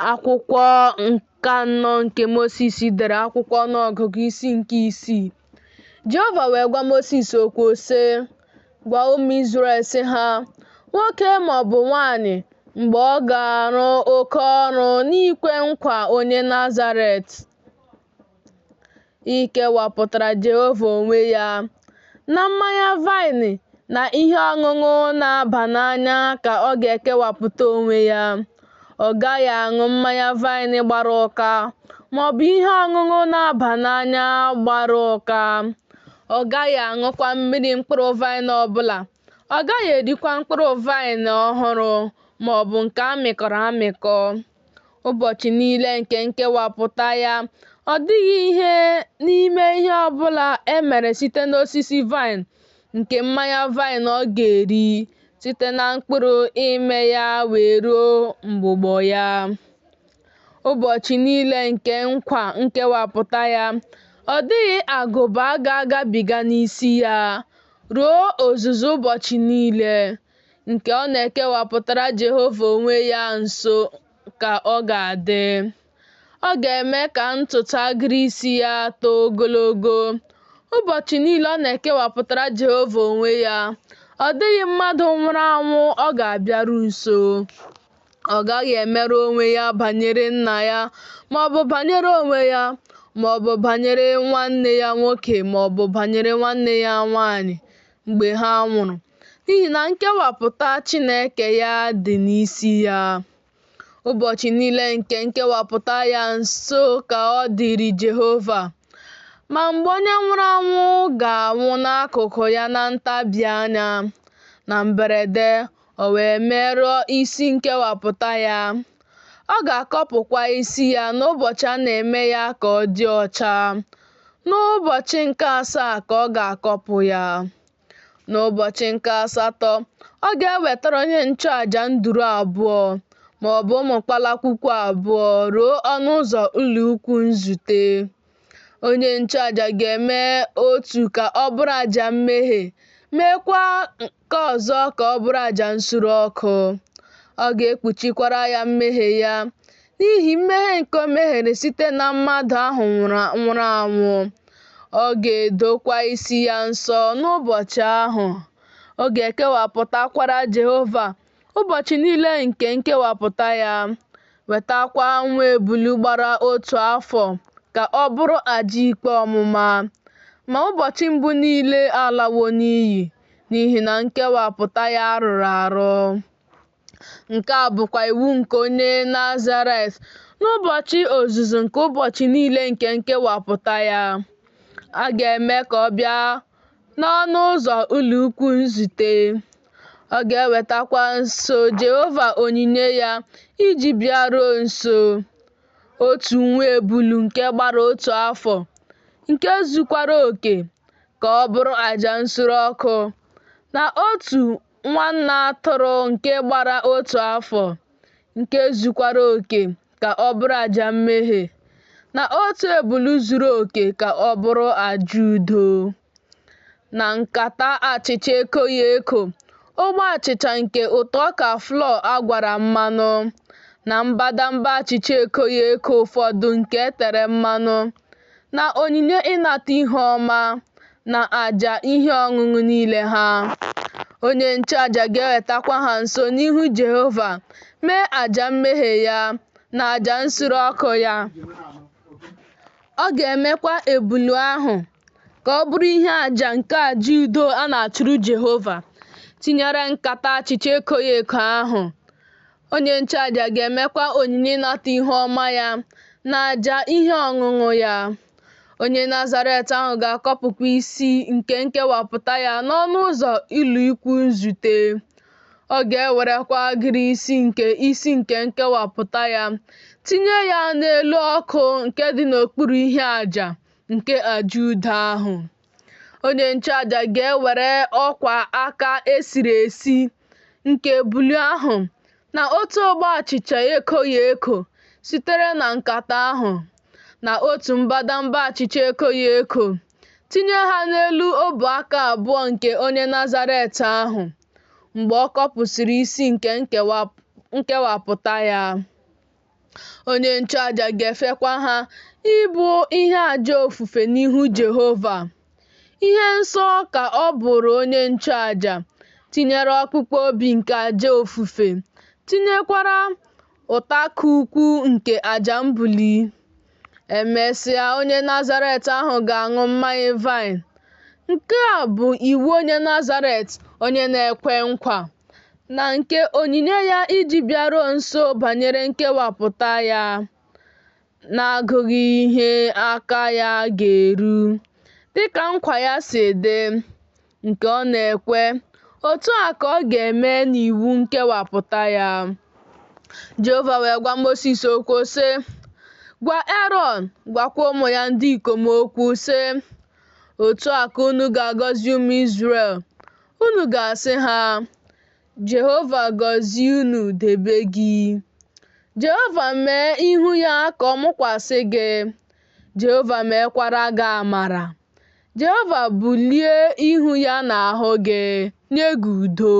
Akwụkwọ nke anọ nke Mosis dere akwụkwọ ọnụọgụgụ isi nke isii. Jehova wee gwa Mosis okwu sị, Gwa ụmụ Izrel sị ha, nwoke ma ọ bụ nwaanyị mgbe ọ ga-arụ oke ọrụ n'ikwe nkwa onye Nazaret, Ikewapụtara Jehova onwe ya na mmanya vaịn na ihe ọṅụṅụ na-aba n'anya ka ọ ga-ekewapụta onwe ya. Ọ gaghị aṅụ mmanya vaịn gbara ụka ma ọ bụ ihe ọṅụṅụ na-aba n'anya gbara ụka. Ọ gaghị aṅụkwa mmiri mkpụrụ vaịn ọ bụla Ọ gaghị erikwa mkpụrụ vaịn ọhụrụ ma ọ bụ nke a mịkọrọ amịkọ. Ụbọchị niile nke nkewapụta ya, ọ dịghị ihe n'ime ihe ọ bụla e mere site n'osisi vaịn nke mmanya vaịn ọ ga-eri, site na mkpụrụ ime ya wee ruo mgbụgbọ ya. Ụbọchị niile nke nkwa nkewapụta ya, ọ dịghị agụba ga-agabiga n'isi ya, Ruo ozuzu ụbọchị niile nke ọ na-ekewapụtara Jehova onwe ya nsọ ka ọ ga-adị. Ọ ga-eme ka ntutu agịrị isi ya too ogologo. Ụbọchị niile ọ na-ekewapụtara Jehova onwe ya, ọ dịghị mmadụ nwụrụ anwụ ọ ga-abịaru nso. ọ gaghị emerụ onwe ya banyere nna ya ma ọ bụ banyere onwe ya ma ọ bụ banyere nwanne ya nwoke ma ọ bụ banyere nwanne ya nwanyị mgbe ha nwụrụ n'ihi na nkewapụta Chineke ya dị n'isi ya ụbọchị niile nke nkewapụta ya nsọ ka ọ dịrị Jehova ma mgbe onye nwụrụ anwụ ga-anwụ n'akụkụ ya na ntabi anya na mberede o wee merụọ isi nkewapụta ya. Ọ ga-akọpụkwa isi ya n'ụbọchị a na-eme ya ka ọ dị ọcha. N'ụbọchị nke asaa ka ọ ga-akọpụ ya. N'ụbọchị nke asatọ, ọ ga-ewetara onye nchụaja nduru abụọ ma ọ bụ ụmụ kpalakwukwu abụọ ruo ọnụ ụzọ ụlọ ikwu nzute. Onye nchụaja ga-eme otu ka ọ bụrụ aja mmehie, meekwa Nke ọzọ ka ọ bụrụ aja nsure ọkụ. Ọ ga-ekpuchikwara ya mmehie ya, n'ihi mmehie nke o mehiere site na mmadụ ahụ nwụrụ anwụ. Ọ ga-edokwa isi ya nsọ n'ụbọchị ahụ. Ọ ga-ekewapụtakwara Jehova ụbọchị niile nke nkewapụta ya, wetakwa nwa ebulu gbara otu afọ ka ọ bụrụ aja ikpe ọmụma. Ma ụbọchị mbụ niile alawo n'iyi. n'ihi na nkewapụta ya rụrụ arụ. Nke a bụkwa iwu nke onye Nazaret n'ụbọchị ozuzu nke ụbọchị niile nke nkewapụta ya. A ga-eme ka ọ bịa n'ọnụ ụzọ ụlọikwuu nzute. Ọ ga-ewetakwa nso Jehova onyinye ya iji bịaruo nso, otu nwa ebulu nke gbara otu afọ, nke zukwara oke ka ọ bụrụ aja nsure ọkụ, na otu nwa nne atụrụ nke gbara otu afọ, nke zukwara oke ka ọ bụrụ aja mmehie, na otu ebulu zuru oke ka ọ bụrụ aja udo, na nkata achịcha ekoghị eko, ogbe achịcha nke ụtụ ọka flọọ a gwara mmanụ, na mbadamba achịcha ekoghị eko ụfọdụ nke e tere mmanụ. na onyinye ịnata ihu ọma na aja ihe ọṅụṅụ niile ha. Onye nchụaja ga-ewetakwa ha nso n'ihu Jehova mee aja mmehie ya na aja nsure ọkụ ya. Ọ ga-emekwa ebulu ahụ ka ọ bụrụ ihe aja nke aja udo a na-achụrụ Jehova, tinyere nkata achịcha ekoghị eko ahụ. Onye nchụaja ga-emekwa onyinye ịnata ihu ọma ya na aja ihe ọṅụṅụ ya. Onye Nazaret ahụ ga-akọpụkwa isi nke nkewapụta ya n'ọnụ ụzọ ụlọikwuu nzute. Ọ ga-ewerekwa agịrị isi nke isi nke nkewapụta ya tinye ya n'elu ọkụ nke dị n'okpuru ihe aja nke aja udo ahụ. Onye nchụaja ga-ewere ọkwa aka e siri esi nke ebulu ahụ na otu ogbe achịcha ekoghị eko sitere na nkata ahụ, na otu mbadamba achịcha ekoghị eko, tinye ha n'elu ọbụ aka abụọ nke onye Nazaret ahụ mgbe ọ kọpụsịrị isi nke nkewapụta ya. Onye nchụaja ga-efekwa ha ịbụ ihe aja ofufe n'ihu Jehova. Ihe nsọ ka ọ bụrụ onye nchụaja, tinyere ọkpụkpụ obi nke aja ofufe, tinyekwara ụtakụ ụkwụ nke aja mbuli. E mesịa, onye Nazaret ahụ ga-aṅụ mmanya vaịn. Nke a bụ iwu onye Nazaret, onye na-ekwe nkwa, na nke onyinye ya iji bịaruo nso banyere nkewapụta ya, n'agụghị ihe aka ya ga-eru, dịka nkwa ya si dị, nke ọ na-ekwe, otu a ka ọ ga-eme n'iwu nkewapụta ya. Jehova wee gwa Mosis okwu sị, Gwa Erọn, gwakwa ụmụ ya ndị ikom okwu sị, Otu a ka unu ga-agọzi ụmụ Izrel. Unu ga-asị ha, Jehova gọzie unu debe gị. Jehova mee ihu ya ka ọ mụkwasị gị. Jehova meekwara gị amara. Jehova bulie ihu ya n'ahụ gị, nye gị udo.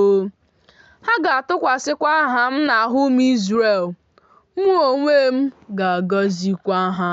Ha ga-atụkwasịkwa aha m n'ahụ ụmụ Izrel, mụ onwe m ga-agọzikwa ha.